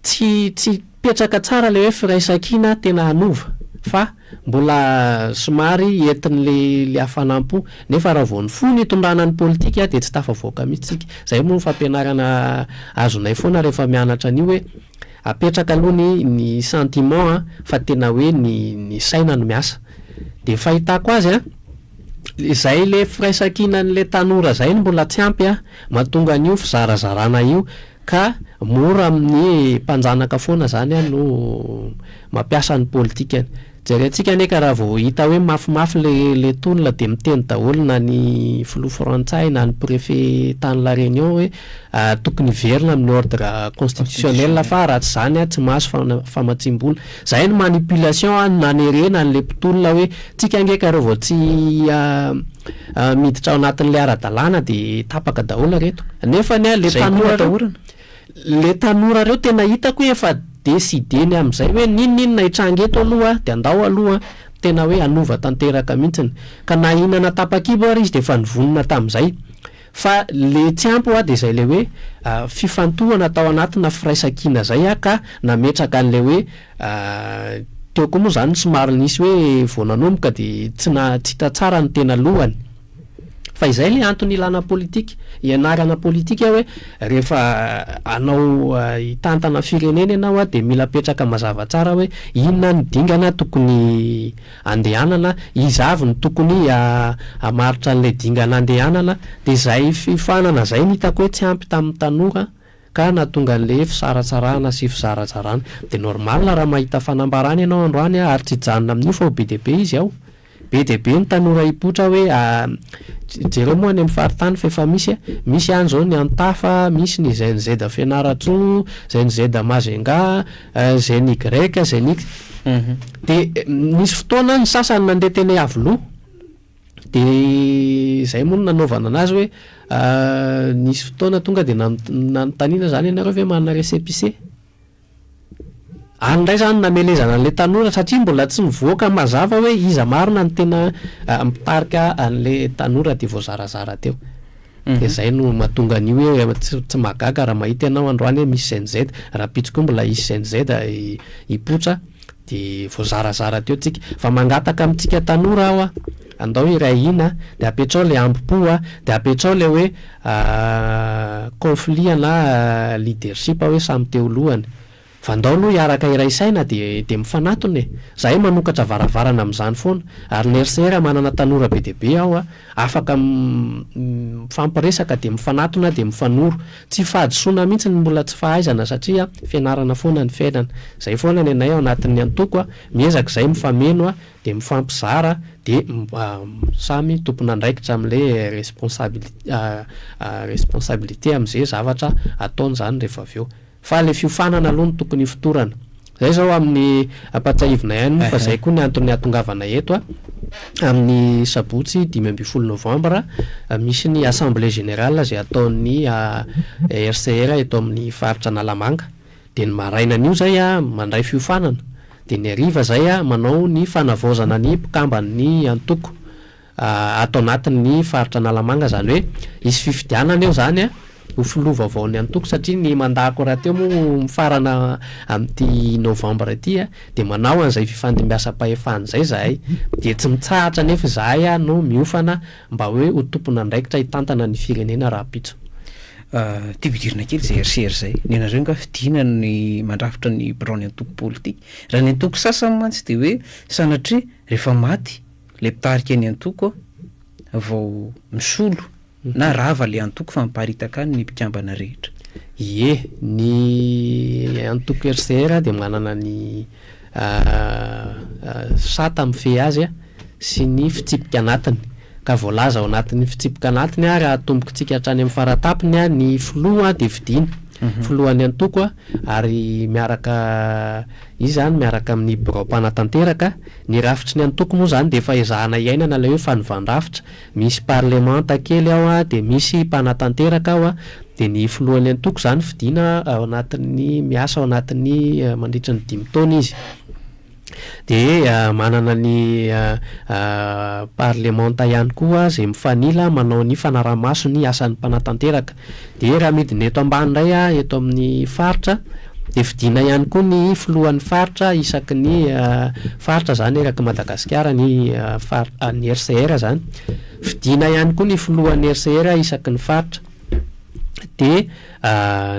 Tsy tsy hipetraka tsara ilay hoe firaisankina tena hanova fa mbola somary entin'ilay ilay hafanam-po. Nefa raha vao nifoha ny tondrana ny politika dia tsy tafavoaka mihitsy isika. Izay moa no fampianarana azonay foana rehefa mianatra an'io hoe apetraka aloha ny ny sentiment an, fa tena hoe ny ny saina no miasa. Dia ny fahitako azy an, izay ilay firaisankinan'ilay tanora izay no mbola tsy ampy an, mahatonga an'io fizarazarana io. Ka mora amin'ny mpanjanaka foana zany no mampiasa ny politikany. Jerentsika anie ka raha vao hita hoe mafimafy le tolona dia miteny daholo na ny filoha frantsay na ny prefet tany la Réunion hoe tokony hiverina amin'ny ordre constitutionnel fa raha tsy zany tsy mahazo famatsiam-bola. Zay ny manipulation an nanerena anle mpitolona hoe tsika nge ka reo vao tsy miditra ao anatinle aradalana de tapaka daholo reto nefa ny an le tanora reo le tanora reo tena itako hoe efa decideny amzay hoe ninoninona hitranga eto aloha de andao aloha tena hoe hanova tanteraka mintsiny ka na inana tapakibo ary izy de efa nivonona tamzay Fa le tsy ampy hoa de zay le hoe fifantohana tao anatina firaisankina zay ah ka nametraka anle hoe teo koa moa zany somary nisy hoe vao nanomboka de tsy na tsy hita tsara ny tena lohany fa izay le antony ilana politika ianarana politika hoe rehefa anao hitantana firenena ianao ah de mila apetraka mazava tsara hoe inona ny dingana tokony andehanana, iza avy no tokony hamaritra an'ilay dingana andehanana, dia izay fiofanana izay no hitako hoe tsy ampy tamin'ny tanora ka nahatonga an'ilay fisaratsarahana sy fizarajarana. Dia normal raha mahita fanambarana ianao androany ary tsy hijanona amin'io fa ho be dia be izy ao. Be dia be ny tanora hipoitra hoe jereo moa any amin'ny faritany fa efa misy, misy any izao ny Antafa, misy ny znz Fianarantsoa, znz Majunga, Izay ny Greka, izay ny ix. Dia nisy fotoana ny sasany nandeha teny Iavoloha, dia izay moa no nanaovana anazy hoe nisy fotoana tonga dia nanontaniana izany ianareo ve manana récépissé? Any indray izany namelezana an'ilay tanora satria mbola tsy nivoaka mazava hoe iza marina no tena mpitarika an'ilay tanora dia voazarazara teo. dia zay no mahatonga an'io hoe tsy mahagaga raha mahita ianao androany hoe misy cnz, rahampitso koa mbola hisy cnz hipoitra dia voazarazara teo tsika. Fa mangataka amintsika tanora aho a, andao hiray hina dia apetrao ilay hambom-po a, dia apetrao ilay hoe conflit na leadership hoe samy te ho lohany, Fa ndao aloha hiaraka iray saina dia dia mifanatona e! Zahay manokatra varavarana amin'izany foana. Ary ny RCR manana tanora be dia be ao a! Afaka mifampiresaka dia mifanatona dia mifanoro. Tsy fahadisoana mihitsy ny mbola tsy fahaizana satria fianarana foana ny fiainana. Izay foana ny anay ao anatin'ny antoko a! Miezaka izahay mifameno a! Dia mifampizara dia samy tompon'andraikitra amin'ilay responsabilité amin'izay zavatra ataony izany rehefa avy eo. Fa ilay fiofanana aloha no tokony hifotorana. Izay izao amin'ny, ampahatsiahivinay ihany moa fa izay koa ny anton'ny hahatongavanay eto a. Amin'ny sabotsy dimy ambin'ny folo novambra, misy ny assemblée générale izay ataon'ny HCR eto amin'ny faritra Analamanga. Dia ny marainan'io izay mandray fiofanana. Dia ny hariva izay manao ny fanavaozana ny mpikamban'ny antoko. ato anatin ny faritra Analamanga izany hoe hisy fifidianana eo izany an, ho filoha vaovao ny antoko satria ny mandat ko rahateo moa mifarana amin'ity novembre ity an, dia manao an'izay fifandimbiasam-pahefana izay izahay, dia tsy mitsahatra anefa izahay an no miofana mba hoe ho tompon'andraikitra hitantana ny firenena rahampitso. Tiako hidirana kely izay RCR izay, ny anareo nga fidiana ny mandrafitra ny biraon'ny antoko politika? Raha ny antoko sasany mantsy dia hoe sanatria rehefa maty Ilay mpitarika ny antoko vao misolo na rava ilay antoko fa miparitaka any ny mpikambana rehetra. Ie, ny antoko RCR dia manana ny sata mifehy azy sy ny fitsipika anatiny. Ka voalaza ao anatin'ny fitsipika anatiny raha atombokintsika hatrany amin'ny faratapiny ny filoha dia fidiana, filohan'ny antoko ary miaraka izy izany miaraka amin'ny birao mpanatanteraka. Ny rafitry ny antoko moa izany dia efa ezahana iainana ilay hoe fanovan-drafitra, misy parlemanta kely ao an, dia misy mpanatanteraka ao an, dia ny filohan'ny antoko izany fidiana ao anatin'ny, miasa ao anatin'ny mandritry ny dimy taona izy, dia manana ny parlemanta ihany koa izay mifanila manao ny fanaraha-maso ny asan'ny mpanatanteraka, Dia raha midina eto ambany indray aho eto amin'ny faritra dia fidiana ihany koa ny filohan'ny faritra isaky ny faritra izany eraky Madagasikara ny ny RCR izany. Fidiana ihany koa ny filohan'ny RCR isaky ny faritra. Dia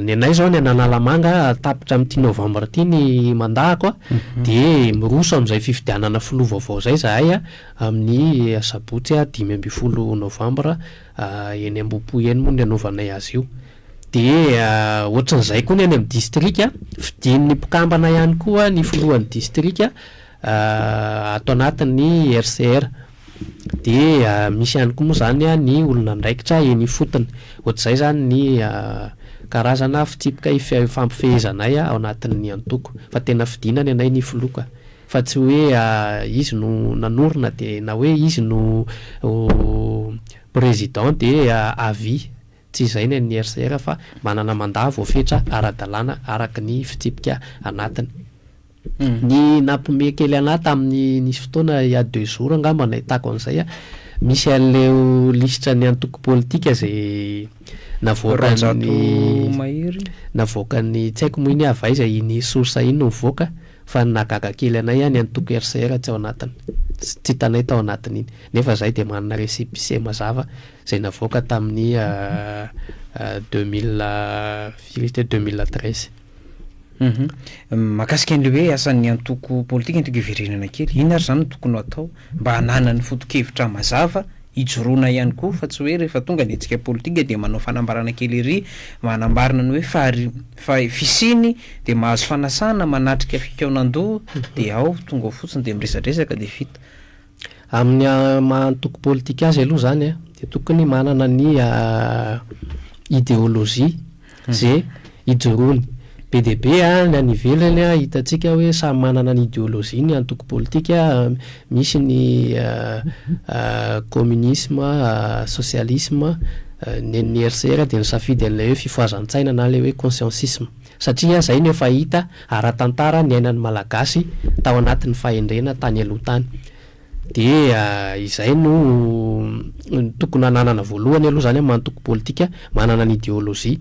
ny anay izao ny an'Analamanga tapitra amin'ity novambra ity ny mandahako a, mhm. dia miroso amin'izay fifidianana filoha vaovao izay izahay amin'ny asabotsy dimy ambin'ny folo novambra. eny Ambohipo eny moa no anaovanay azy io. Dia ohatran'izay koa ny any amin'ny distrika, fidin'ny mpikambana ihany koa ny filohan'ny distrika ato anatin'ny RCR. Dia misy ihany koa moa izany ny olona andraikitra eny ifotony. Ohatr'izay izany ny karazana fitsipika ifampifehezanay ao anatin'ny antoko. Fa tena fidina ny anay ny filoha ka. Fa tsy hoe izy no nanorina dia na hoe izy no président dia à vie. Tsy izay ny an'ny RCR fa manana mandat voafetra ara-dalàna araka ny fitsipika anatiny. Ny nampiomehy kely anà tamin'ny nisy fotoana il y a deux jours angamba nahitako an'izay, misy an'ileo lisitra ny antoko politika izay navoakan'ny navoakan'ny tsy haiko moa iny avy aiza iny source iny no mivoaka, Fa ny nahagaga kely anay any antoko RCR tsy ao anatiny. Tsy hitanay tao anatiny iny. Nefa izahay dia manana récépissé mazava izay navoaka tamin'ny deux mille firy izy teo deux mille treize. Mahakasika an'ilay hoe asan'ny antoko politika, antoko iverenana kely, inona ary izany no tokony ho atao? Mba hananany foto-kevitra mazava hijoroana ihany koa fa tsy hoe rehefa tonga ny hetsika politika dia manao fanambarana kely ery mba hanambarana ny hoe fa fisiany dia mahazo fanasana manatrika fikaonan-doha dia ao tonga ao fotsiny dia miresadresaka dia vita. Amin'ny maha antoko politika azy aloha izany dia tokony manana ny ideolojia. ze ijoroany. Be dia be ny any ivelany hitantsika hoe samy manana ny ideologie-ny ny antoko politika, misy ny communisme, socialisme, nen'ny RCR dia nisafidy an'ilay hoe fifohazan-tsaina na ilay hoe consciencisme satria zay no efa hita ara-tantara niainan'ny Malagasy tao anatin'ny fahendrena tany aloha tany. Dia izay no tokony hananana voalohany aloha izany amin'ny maha antoko politika, manana ny ideolojia.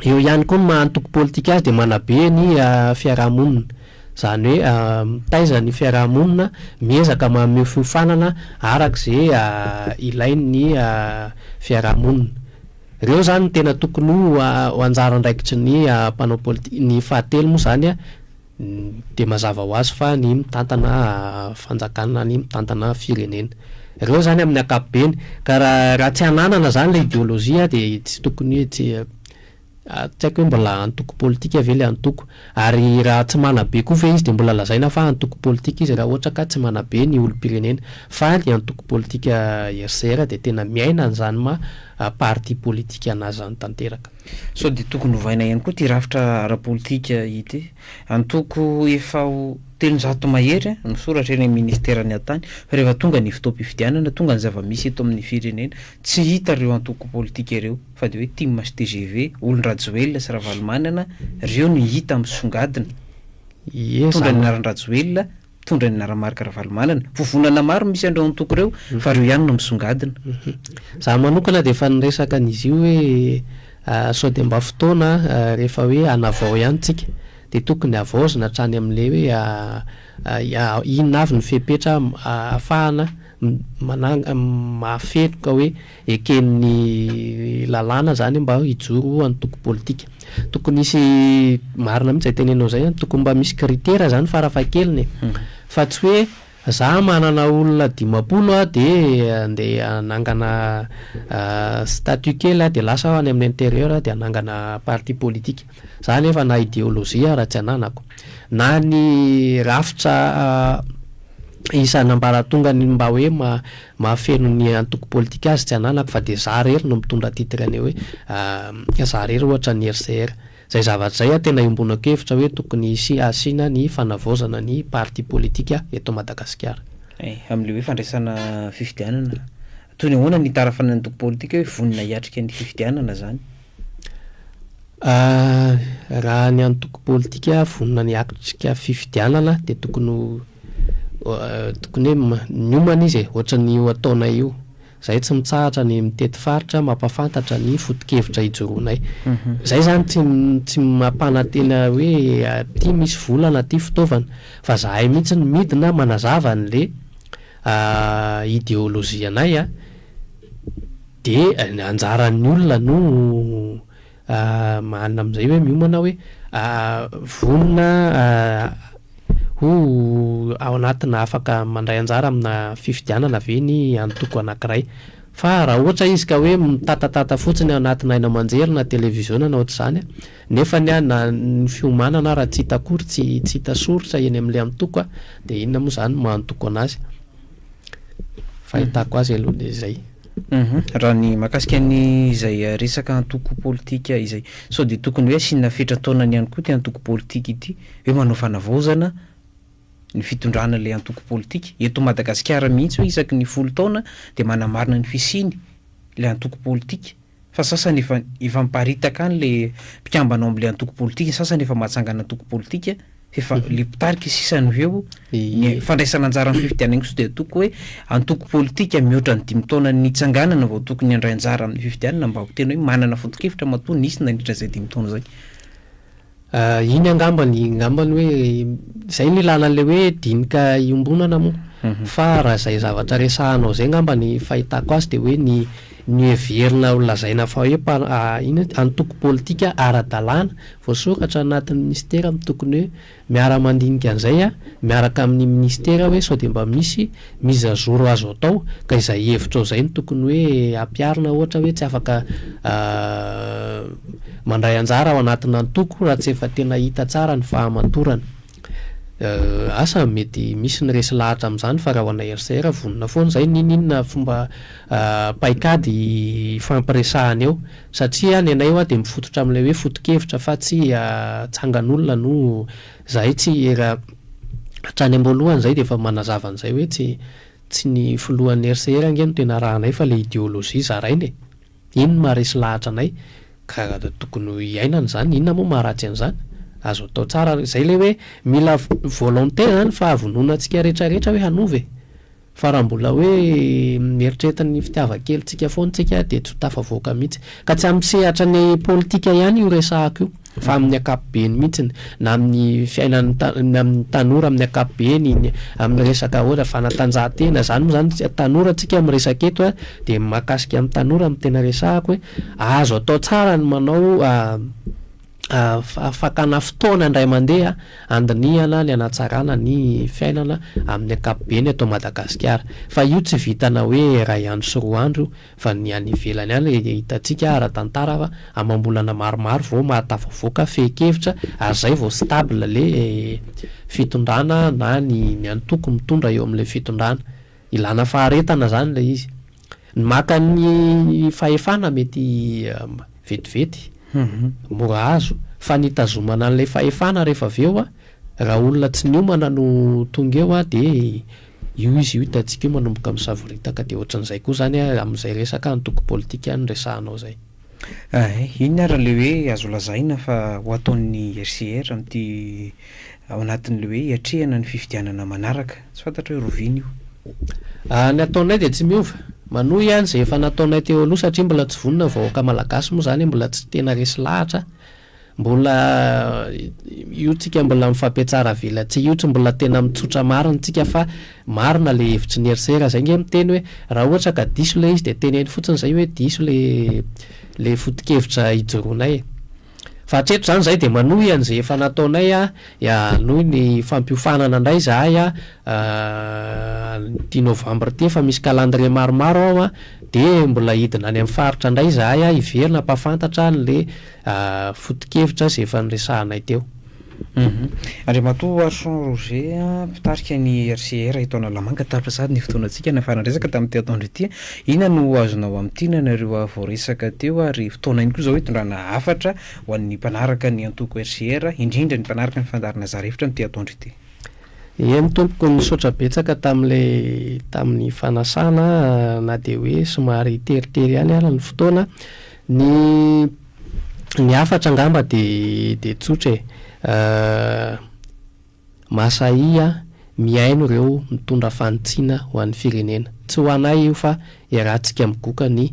Eo ihany koa ny maha antoko politika azy dia manabe ny fiaraha-monina. Izany hoe mitaiza ny fiaraha-monina, miezaka manome fiofanana araka izay ilain'ny fiaraha-monina. Ireo izany no tena tokony ho anjara andraikitry ny mpanao politika. Ny fahatelo moa izany dia mazava ho azy fa ny mitantana fanjakana, ny mitantana firenena. Ireo izany amin'ny ankapobeny. Ka raha tsy ananana izany ilay ideolojia dia tsy tokony hoe tsy haiko hoe mbola antoko politika ve ilay antoko. Ary raha tsy manabe koa ve izy dia mbola lazaina fa antoko politika izy raha ohatra ka tsy manabe ny olom-pirenena. Fa ny antoko politika HCR dia tena miaina an'izany maha parti politika an'azy izany tanteraka. Sao dia tokony hovaina ihany koa ity rafitra ara-politika ity? Antoko efa ho telonjato mahery no soratra eny amin'ny minisiteran'ny Hatany fa rehefa tonga ny fotoam-pifidianana, tonga ny zava-misy eto amin'ny firenena, tsy hita ireo antoko politika ireo fa dia hoe tim sy tgv, olon-dRajoelina sy Ravalomanana, ireo no hita misongadina, mitondra ny anaran-dRajoelina mpitondra ny Naramarc Ravalomanana. Vovonana maro misy an'ireo antoko ireo fa ireo ihany no misongadina. Izaho manokana dia efa niresaka an'izy io hoe sao dia mba fotoana rehefa hoe hanavao ihany isika dia tokony havaozina hatrany amin'ilay hoe inona avy ny fepetra ahafahana mananga mahafeno ka hoe Eken'ny lalàna izany mba hijoro ho antoko politika. Tokony hisy, marina mihitsy izay tenenao izay an, tokony mba misy critera izany farafahakeliny e. Fa tsy hoe za manana olona dimampolo aho dia andeha hanangana statut kely aho dia lasa aho any amin'ny intérieur aho dia hanangana parti politika. Za anefa na ideologie raha tsy ananako, na ny rafitra isan'ambaratongany mba hoe mahafeno ny antoko politika azy tsy ananako fa dia za rery no mitondra titre an'io hoe za rery ohatra ny RCR. Zay zavatra zay a tena iombonako hevitra hoe tokony hisy asiana ny fanavaozana ny parti politika eto Madagasikara. Ay, amin'ilay hoe fandraisana fifidianana, toy ny ahoana ny itarafan'ny antoko politika hoe vonona hiatrika ny fifidianana zany? Raha ny antoko politika vonona ny hiatrika fifidianana dia tokony ho tokony hoe miomana izy e, ohatran'ny io ataonay io. Izahay tsy mitsahatra ny mitety faritra mampahafantatra ny foto-kevitra ijoroanay. Izay izany tsy tsy mampanantena hoe aty misy vola na aty fitaovana fa izahay mihitsy no midina manazava an'ilay ideologie-nay. Dia ny anjaran'ny olona no manana amin'izay hoe miomana hoe vonona ho ao anatina afaka mandray anjara amina fifidianana ve ny antoko anankiray. Fa raha ohatra izy ka hoe mitatatata fotsiny ao anatina haino aman-jery na televiziona na ohatr'izany nefa ny na ny fiomanana ara tsy hita akory, tsy hita soritra eny amin'ilay antoko dia inona moa izany no maha-antoko anazy. Fahitako azy aloha dia izay. Raha ny mahakasika an'izay resaka antoko politika izay, sao dia tokony hoe asiana fetran-taonany ihany koa ity antoko politika ity, hoe manao fanavaozana ny fitondrana ilay antoko politika. Eto Madagasikara mihitsy hoe isaky ny folo taona dia manamarina ny fisiany ilay antoko politika. Fa sasany efa efa miparitaka any le mpikambana ao amle antoko politika, ny sasany efa mahatsangana antoko politika, f'efa le mpitarika sisa no eo, ny fandraisana anjara amin'ny fifidianana kosa dia toko hoe antoko politika mihoatra ny dimy taona nitsanganana vao tokony handray anjara amin'ny fifidianana mba ho tena hoe manana foto-kevitra matoa nisy nandritra izay dimy taona izay. Ah, iny angamba ny ngambany hoe izay no ilalan'ilay hoe dinika iombonana moa. Fa raha izay zavatra resahanao izay angamba ny fahitako azy dia hoe ny ny heverina ho lazaina fa hoe mpa- a inona ity antoko politika ara-dalàna voasoratra anatin'ny minisitera no tokony hoe miara-mandinika an'izay an, miaraka amin'ny minisitera hoe sao dia mba misy Mise à jour azo atao ka izay hevitrao izay no tokony hoe ampiharina ohatra hoe tsy afaka mandray anjara ao anatin'ny antoko raha tsy efa tena hita tsara ny fahamatorana. Asa mety misy ny resy lahatra amin'izany fa raha ho anay RCR vonona foana izay n'ininona fomba paikady hifampiresahana eo satria ny anay hoa dia mifototra amin'ilay hoe foto-kevitra fa tsy tsangan'olona no Zahay tsy era hatrany amboalohany zay dia efa manazava an'izay hoe tsy tsy ny filohan'ny RCR ange no tena arahanay fa le ideologie zaraina e! Iny no maharesy lahatra anay ka tokony ho iainana izany, inona moa maharatsy an'izany? Azo atao tsara, zay le hoe mila volonté zany fahavononantsika retraretra hoe hanova e! Fa raha mbola hoe mieritreritra ny fitiavan-kelintsika foana isika dia tsy ho tafavoaka mihitsy. Ka tsy amin'ny sehatra ny politika ihany io resahako io fa amin'ny ankapobeny mihitsy, na amin'ny fiainan'ny amin'ny tanora amin'ny ankapobeny, ny amin'ny resaka ohatra fanatanjahantena, izany moa izany tanora isika miresaka eto dia mahakasika ny tanora no tena resahako hoe azo atao tsara ny manao Fakana fotoana indray mandeha handinihana ny hanatsarana ny fiainana amin'ny ankapobeny eto Madagasikara. Fa io tsy vitana hoe iray andro sy roa andro io fa ny any ivelany any hitantsika ara-tantara fa amam-bolana maromaro vao mahatafavoaka fehin-kevitra ary izay vao stable ilay fitondrana na ny antoko mitondra eo amin'ilay fitondrana. Ilana faharetana izany ilay izy. Ny maka ny fahefana mety vetivety, mora azo, fa ny hitazomana an'ilay fahefana rehefa avy eo, raha olona tsy niomana no tonga eo dia io izy io hitantsika io manomboka misavoritaka, dia ohatran'izay koa izany amin'izay resaka antoko politika any resahanao izay. Ahay, inona ary ilay hoe azo lazaina fa ho ataon'ny HCR amin'ity ao anatin'ilay hoe hiatrehana ny fifidianana manaraka? Tsy fantatro hoe rovina io. Aah, ny ataonay dia tsy miova. Manohy ihany izay efa nataonay teo aloha satria mbola tsy vonona ny vahoaka malagasy moa izany mbola tsy tena resy lahatra. Mbola io tsika mbola mifampetsara avelatsihy io tsy mbola tena mitsotra marina tsika fa marina le hevitry ny RCR zay nge miteny hoe raha ohatra ka diso le izy de teneno fotsiny zay hoe diso le le fotokevitra ijoroanay e! Fa hatreto zany zay de manohy anze efa nataonay a, hanohy ny fampiofanana ndray zahay a amin'ity novembre ity efa misy calendrier maromaro ao a de mbola hidina any amin'ny faritra ndray zahay a hiverina hampafantatra anle foto-kevitra izay efa niresahanay teo. Andriamatoa Archon Roger, mpitarika ny RCR eto Analamanga, tapitra sahady ny fotoanantsika nahafahana niresaka tamin'ny ity atoandro ity. Inona no azonao amintinina an'ireo voaresaka teo ary fotoana ihany koa izao hitondrana hafatra ho an'ny mpanaraka ny antoko RCR, indrindra ny mpanaraka ny fandaharana zara hevitra amin'ity atoandro ity? Eny tompoko, nisaotra betsaka tamin'ilay tamin'ny fanasana na dia hoe somary teritery ihany ary ny fotoana Ny ny hafatra angamba dia dia tsotra e. Masahia mihaino ireo mitondra fanitsiana ho an'ny firenena. Tsy ho anay io fa iarahantsika migoka ny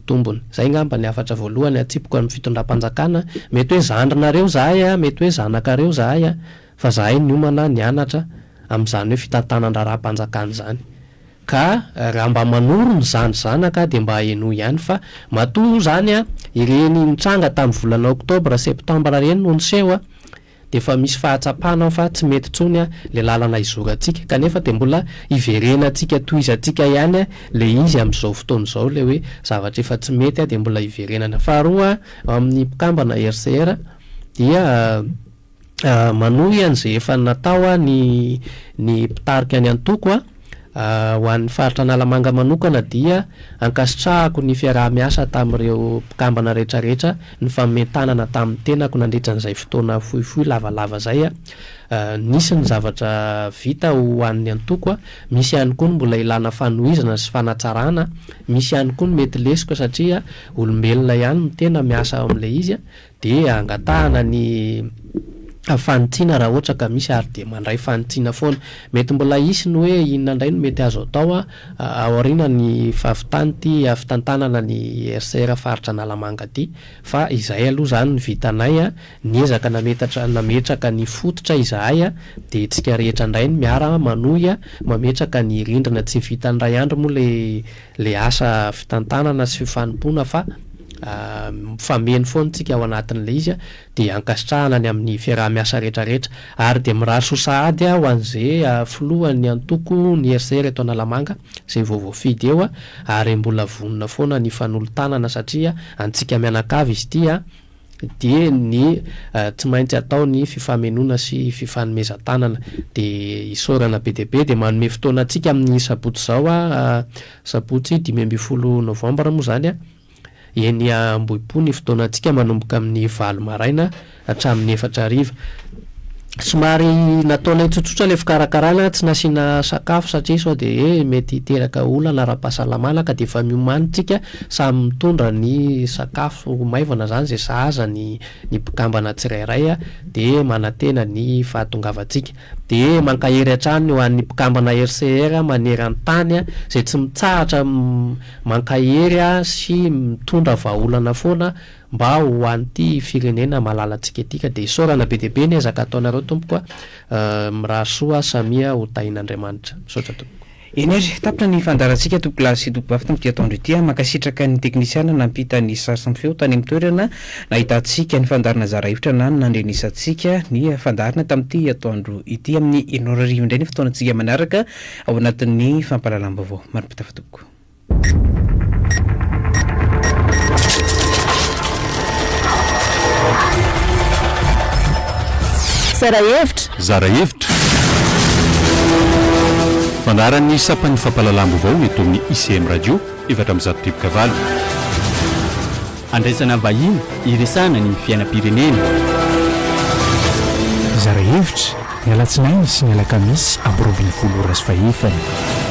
tombony. Izay angamba ny hafatra voalohany atsipiko amin'ny fitondram-panjakana. Mety hoe zandrinareo izahay, mety hoe zanakareo izahay fa izahay niomana nianatra amin'izany hoe fitantanan-draharaham-panjakana izany. Ka raha mba manoro ny zandry zanaka aho dia mba henoy ihany fa matoa moa izany an, ireny nitranga tamin'ny volana octobre, septembre ireny no niseho an, dia efa misy fahatsapana aho fa tsy mety intsony an ilay lalana izorantsika, kanefa dia mbola iverenantsika tohizantsika ihany an ilay izy amin'izao fotoana izao ilay hoe zavatra efa tsy mety an dia mbola iverenana. Faharoa an, amin'ny mpikambana RCR dia. Manohy an'izay efa natao ny ny mpitarika ny antoko. Ho an'ny faritra Analamanga manokana dia ankasitrahako ny fiaraha-miasa tamin'ireo mpikambana rehetrarehetra, ny fanomen-tanana tamin'ny tenako nandritra an'izay fotoana fohifohy lavalava izay. Nisy ny zavatra vita ho an'ny antoko, misy ihany koa ny mbola ilana fanohizana sy fanatsarana, misy ihany koa ny mety lesoka satria olombelona ihany ny tena miasa ao amin'ilay izy. dia angatahana ny fanitsiana raha ohatra ka misy ary dia mandray fanitsiana foana. Mety mbola hisy ny hoe inona indray no mety azo atao aoriana ny fahavitany ity fitantanana ny RCR faritra Analamanga ity fa izay aloha izany ny vitanay, niezaka nametatra nametraka ny fototra izahay dia tsika rehetra indray no miara manohy mametraka ny rindrina, tsy vitan'ny iray andro moa ilay le asa fitantanana sy fanompoana fa mifameno foana tsika ao anatin'le izy a, de ankasitrahana any amin'ny fiaraha-miasa rehetra rehetra, ary de mirary soa sahady a ho an'ze filohan'ny antoko ny RCR eto Analamanga ze vao voafidy eo a, ary mbola vonona foana ny fanolo-tanana satria antsika mianakavy izy ity a, Dia ny tsy maintsy atao ny fifamenoana sy fifanomezan-tanana. Dia isaorana be dia be. Dia manome fotoana antsika amin'ny sabotsy izao aho, sabotsy dimy ambin'ny folo novambra moa izany, eny Ambohipo ny fotoanantsika manomboka amin'ny valo maraina hatramin'ny efatra hariva. Somary nataonay tsotsotra ilay fikarakarana, tsy nasiana sakafo satria sao dia hoe mety hiteraka olana ara-pahasalamana ka dia efa miomany isika Samy mitondra ny sakafo maivana izany izay sahaza ny ny mpikambana tsirairay dia manantena ny fahatongavantsika. Dia mankahery hatrany ho an'ny mpikambana RCR maneran-tany izay tsy mitsahatra mankahery sy mitondra vahaolana foana mba ho an'ity firenena malalantsika ity ka dia isaorana be dia be ny ezaka ataonareo tompoko a! Mirary soa samia ho tahin'Andriamanitra. Misaotra tompoko. Eny ary, tapitra ny fandaharantsika Topolahy sy Tompobavy tamin'ity atoandro ity a! Mankasitraka ny teknisiana nampita ny sary sy ny feo tany amin'ny toerana nahitantsika ny fandaharana zara hevitra na ny nandrenisantsika ny fandaharana tamin'ity atoandro ity. Amin'ny enina ora arivo indray ny fotoanantsika manaraka ao anatin'ny fampahalalam-baovao. Marim-pitafa tompoko. Zara hevitra! Zara hevitra! Fandaharan'ny sampan'ny fampahalalam-baovao eto amin'ny ICM Radio, efatra amby zato teboka valo. Andraisana vahiny, iresahana ny fiainam-pirenena. Zara hevitra! Ny alatsinainy sy ny alakamisy amby roa ambin'ny folo ora sy fahefany.